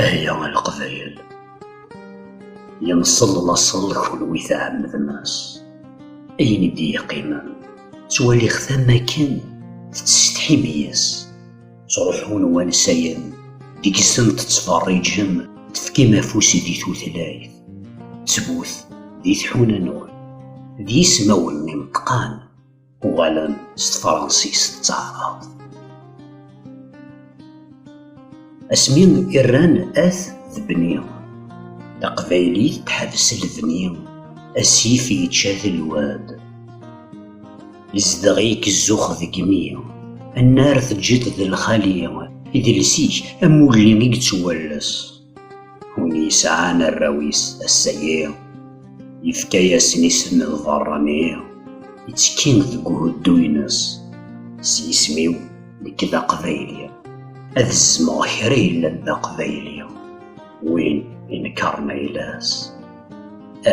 Ahya a Leqbayel, yenṣel laṣel kunwi tɛemmdem-as ayen i d-yeqqimen, ttwaliɣ-t am akken tettsetḥim yes-s, ttruḥun wansayen deg-sen tettfeṛṛiǧem, tefkim afus di tutlayt, ttbut di tḥuna-nwen, d yismawen ineṭṭqan. uɣalen s tefransist d taɛrabt asmi i rran at d bni taqbaylit teḥbes lebni asif yečča telwad izdeɣ-ik zzux deg imi annar teǧǧiḍ d lxali idles-ik am ulli i yettwalles Win yesɛan arraw-is ass-agi, yefka-asen isem d berrani, ittekkin deg uhuddu-ines. S yisem-iw, nekk d aqbayli, ad zzmeɣ kra yellan d aqbayli, win inekkaren ayla-s,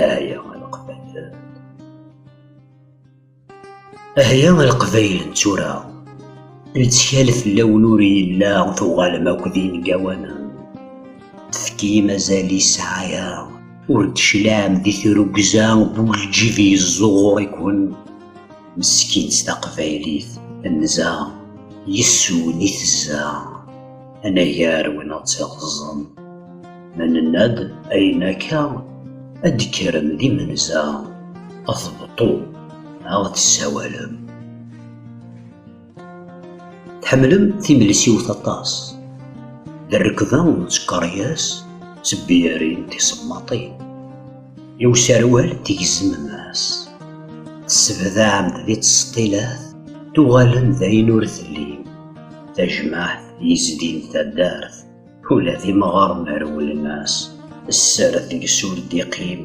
ay leqbayel! Ahya a Leqbayel n tura, lettkal fell-awen ur yella, tuɣalem akk d ineggawanen, tefkim azal i ssɛaya, ur d-teclaɛem di tirugza n ulǧib yezzuɣur-iken, meskint taqbaylit, tenza, yes-wen i tezza. anagar win ad tt-iɣeẓẓen. Ma nenna-d ayen akka, ad d-kkrem d imenza, ad tbeṭṭu, ad d-tessawalem. Tḥemmlem timelsiwt aṭas, d rrekba n tkeryas d tebyarin tisemmaṭin. I userwal tgezmem-as, tessebdaɛem-d di tseṭṭilat, tuɣalem d ayen ur tellim. Tajmaɛt yezdin taddart, ula d imɣaren rewlen-as, sser deg-s ur d-iqqim,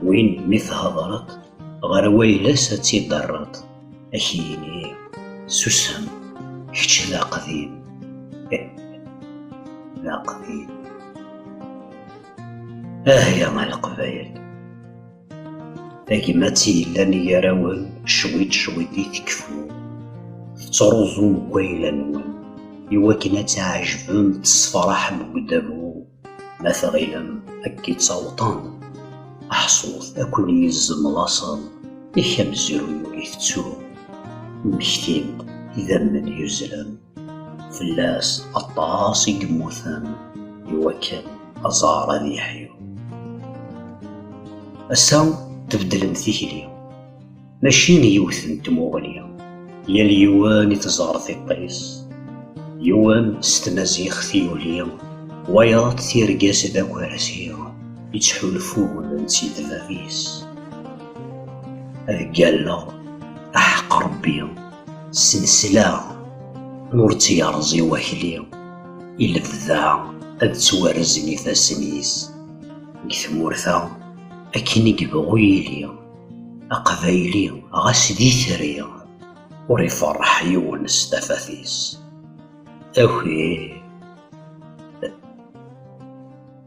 win mi thedreḍ ɣer wayla-s ad tt-id-terreḍ, ad k-yini, susem, kečč d aqdim, ih, d aqdim. Ah ya a Leqbayel! tagmat i yellan gar-awen cwiṭ cwiṭ i tekfu tettruẓum deg wayla-nwen iwakken ad tɛejbem tessefraḥem deg udabu ma tɣilem akka ttawṭen aḥṣut ad ken-yezzem laṣel yak amezruy ur itettu mmektin idammen yuzzlen fell-as aṭas i yemmuten i wakken aẓar ad yeḥyu. Ass-a tbeddlem tikli, mačči n yiwet n tmuɣli, yal yiwen i teẓar tiṭ-is, yiwen s tmaziɣt i yuli, wayeḍ tirga-s d akersi, yettḥulfun nett-id bab-is. Ad ggalleɣ, aḥeq Rebbi, S lesla ur tt-yerẓi wakli, i lebda ad ttwarzen ifassen-is. Deg tmurt-a, akken i yebɣu yili, Aqbayli ɣas d itri, ur iferreḥ yiwen s tafat-is. Aki!